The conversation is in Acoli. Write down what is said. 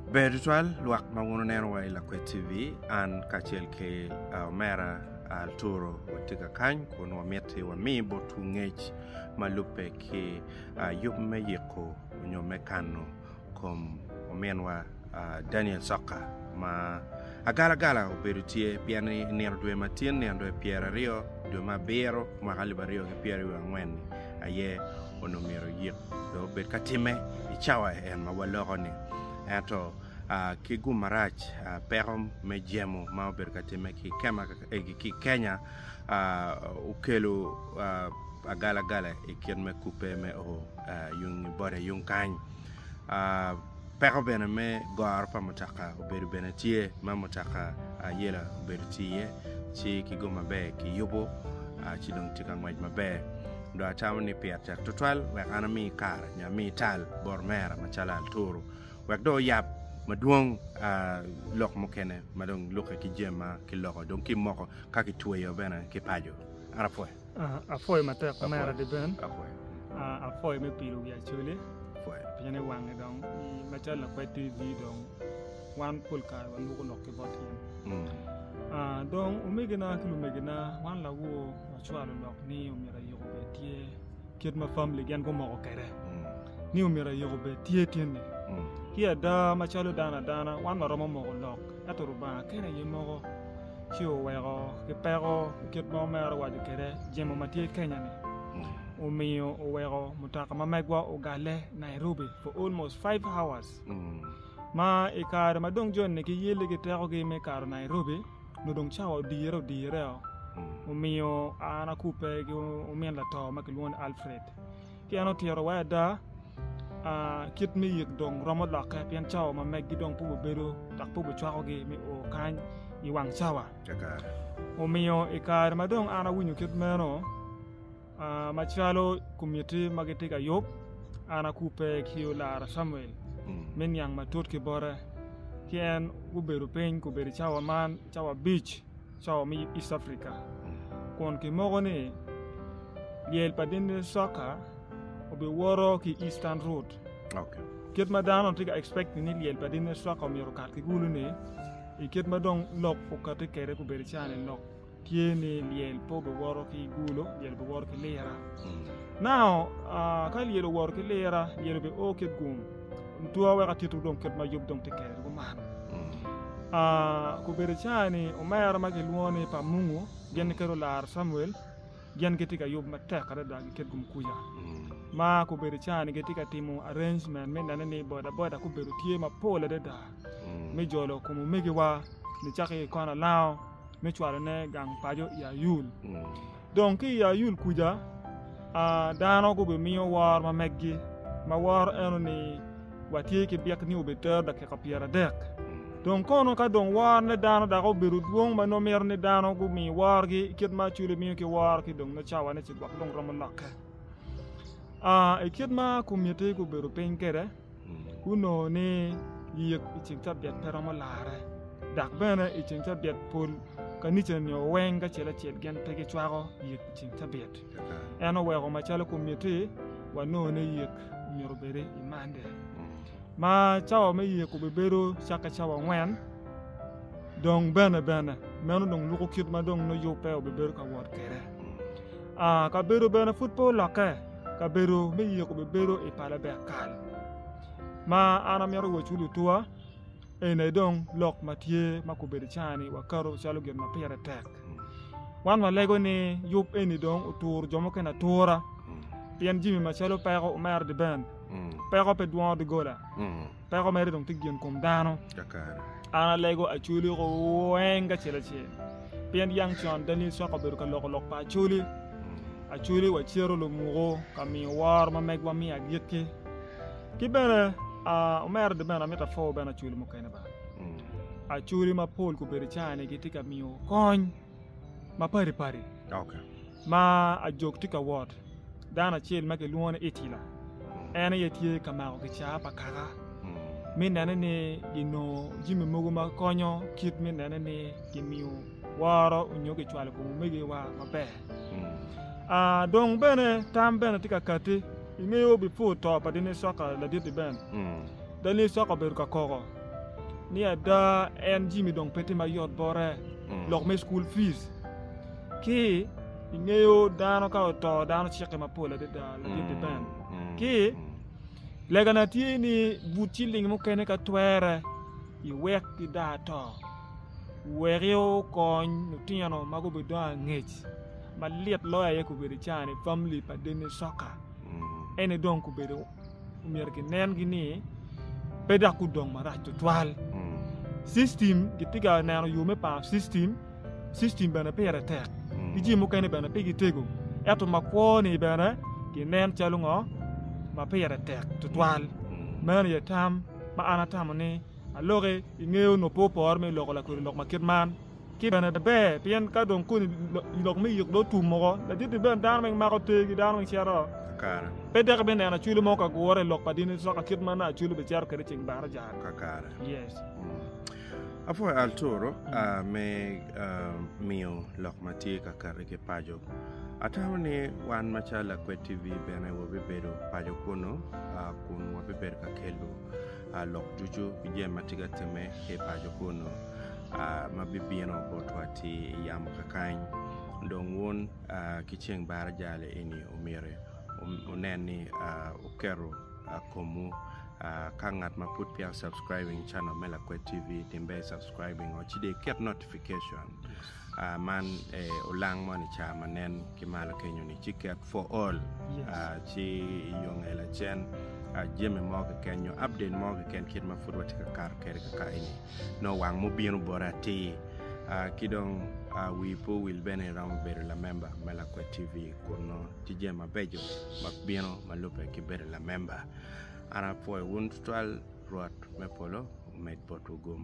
Ber tutwal lwak ma wun wuneno wa i Lakwet TV, an kacel ki omera Arturo watye ka kany kun wamiti wami botwu ngec ma lubbe ki yub me yiko nyo me kano kom ominwa Daniel Sokka ma agalagala obedo tye pien i nino dwe ma tin nino dwe pyeraryo dwe me abiro mwaka alip aryo ki pyeraryo angwen-ni aye onongo myero oyik. dong obed ka timme i cawa en ma waloko-ni. Ento ki gum marac, peko me jemo ma obedo ka timme ki i Kenya okelo agalagala i kit me kubbe me o yung i boda yung kany. Peko bene me goro pa mutoka obedo bene tye ma mutoka ayela obedo tye iye ci ki gum maber kiyubo ci dong tye ka ngwec maber. dong acamo ni pit cek tutwal wek an ami kare nyo ami tal bot omera macalo aturu wek dong oyab madwong lok mukene ma dong lukke ki jami ma kiloko dong kimoko ka kitweyo bene ki paco an apwoyo. Ah, apwoyo matek omera Deben. Apwoyo. Ah, apwoyo me pilo wi Acholi. Apwoyo. Pien i wange dong macalo lakwed TV dong wan pol kare wanwoko lok ki bot in. Mm. Ah, dong omegina ki lumegina wan lawo Acwalo lok ni omyero ayiko bed tye kit ma famili gin gumoko kede ni omyero ayiko bed tye tyeni. Ki ada macalo dano adana wan waromo moko lok ento Lubanga kene aye moko ci oweko ki peko ki kit ma omero waco kede jemo ma tye Kenya-ni omiyo oweko mutoka ma megwa ogalle Nairobi for almost five hours ma i kare ma dong joni giyelle ki tekogi me kato Nairobi nongo dong cawa odire odireoo omiyo an akubbe ki omin lato ma kilwongo ni Alfred ci en otito wa ada kit me yik dong romo lokke pien cawa ma megi dong pud wabedo dok pud wacwakogi me o kany i wang cawa omiyo i kare ma dong an awinyo kit meno Macalo komitti ma gitye ka yub, an akubbe ki olara Camuel me niang matut ki bote. Ki en gubedo piny gubedo i cawa man, cawa abic, cawa me East Africa. Kun kimoko ni lyel pa Dini Soka obiwoto ki Eastern Route. Kit ma dano tye ka expect ni lyel pa Dini Soka myero okat ki kulu-ni, i kit ma dong lok okati kwede gubedo cawa-ni lok. tye ni lyel pe obiwoto ki gulo lyel obiwoto ki lira nao ka lyel owoto ki lira lyel obi o ki gum two weko atito dong kit ma yub dong tye kede kuman obedo cani omera ma kilwongo ni pa mungu gin kede olaro Camuel gin gitye ka yub matek adada ki kit gum kuca ma obedo cani gitye ka timo arrangement me nene ni bodaboda gubedo tye mapol adada me jolo kom omegiwa nicaki i kona lango me cwalone gang paco i Ayul. Dong ki i Ayul kuca, dano gubimiyo woro ma meggi, ma woro eno ni watye ki byek ni obitero dakika pyeradek. Dong kono ka dong worone dano dok obedo dwong ma nongo mito ni dano gumi worogi kit ma acwele miyo ki woro ki dong me cawane ci gwok dong romo lokke. I kit ma komitti gubedo piny kwede, Gunongo ni yik i ceng cabiet pe romo larre, dok bene i ceng cabiet pol kanica nio weng acel acel gin pe gicwako yik i ceng cabiet. En oweko macalo kumiti wanongo ni yik myero obed i Mande. Ma cawa me yik obibedo cakke cawa angwen, dong bene bene meno dong luko kit ma dong nongo yubbe obibedo ka wot kwede. Kabedo bene pud pe olokke, kabedo me yee kobibedo i pa Labek kal. Ma an amito wec ki lutuwa ene dong lok ma tye ma kobedo cani wakato calo gin ma pire tek. Wan walego ni yub eni dong oturo jo mukene atura pien jami macalo peko omero dye ben, peko pe dwongo doggola. Peko mere dong tye gin kom dano. An alego Acholi oko weng kacel acel. Pien yang con Daniel Swaka obedo ka loko lok pa Acholi. Hmm. Acholi wa cero lumuko ka miyo woro ma megwa miyo agikki. Ki bene uh, omera de bene amita fo bene Acholi mukene ba. Hmm. Acholi ma pol kubedo cani gitye ka miyo kony ma padi padi. Okay. Ma ajok tye ka wot, dano acel ma kilwongo ni Itila, en aye tye ka mako kicaa pa kaka me nene ni ginongo jami mogo ma konyo kit me nene ni kimiyo woro nyo kicwalo kom omegiwa maber. Dong bene tam bene tye ka kati, ingeyo bipur to pa Dinisoka ladit-ti bene, Dinisoka obedo ka koko ni ada en jami dong pe tye mayot bote, lok me cukul fic. Ki, ingeyo dano ka oto dano cikke mapol adada ladit-ti bene. Ki, legana tye ni but ciling mukene ka twere iwek gida to, weki okony lutino ma gubidongo angec. Malit loyo aye gubedo ica-ni famili pa Denny Soka ene dong gubedo omyero ginengi ni pe dok gudong marac tutwal. Cictim gitye ka neno yo me paro cictim. System bene pire tek, ki jami mukene bene pe gitego. Ento makwo-ni bene ginen calo ngo? Ma pire tek tutwal. Meno aye tam ma an atamo ni aloki i nge onongo pe opore me loko lakodi lok ma kit man. Ki bene ber pien ka dong koni lok me yik dong otum woko, ladit-ti bene dano weng mako te ki dano weng cito. Pe dok ibineno Acholi mo ka gure i lok pa dini soka kit ma nongo Acholi bicito kwede ceng Barajan. Yes. Apwoyo Arturo me miyo lok ma tye ka kati ki paco. Atamo ni wan macalo Lakwed TV bene wabibedo paco kunnu kun wabibedo ka kelo lok ducu ki jami ma tye ka timme ki i paco kunnu ma bibino botwa ki i yamo kakany. Dong wun ki ceng baraja-ni myero wunen ni wuketo komwu ka ngat ma pud peya o subscribing channel me lakwet TV tim ber i subscribing o ci dong iket notification man olang moni i cawa ma nen ki malo kenyo ni ci ket for all ci iyo nge lacen jami mo keken nyo update mo keken kit ma pud watye ka kato kwede kakayi ni nongo wang mubino boti atir ki dong wi pe owil bene iromo bedo lamemba me lakwet TV. kun nongo tye jami mabeco ma bino ma lubbe ki bedo lamemba an apwoyo wun tutwal Rwot me polo omed botwu gum.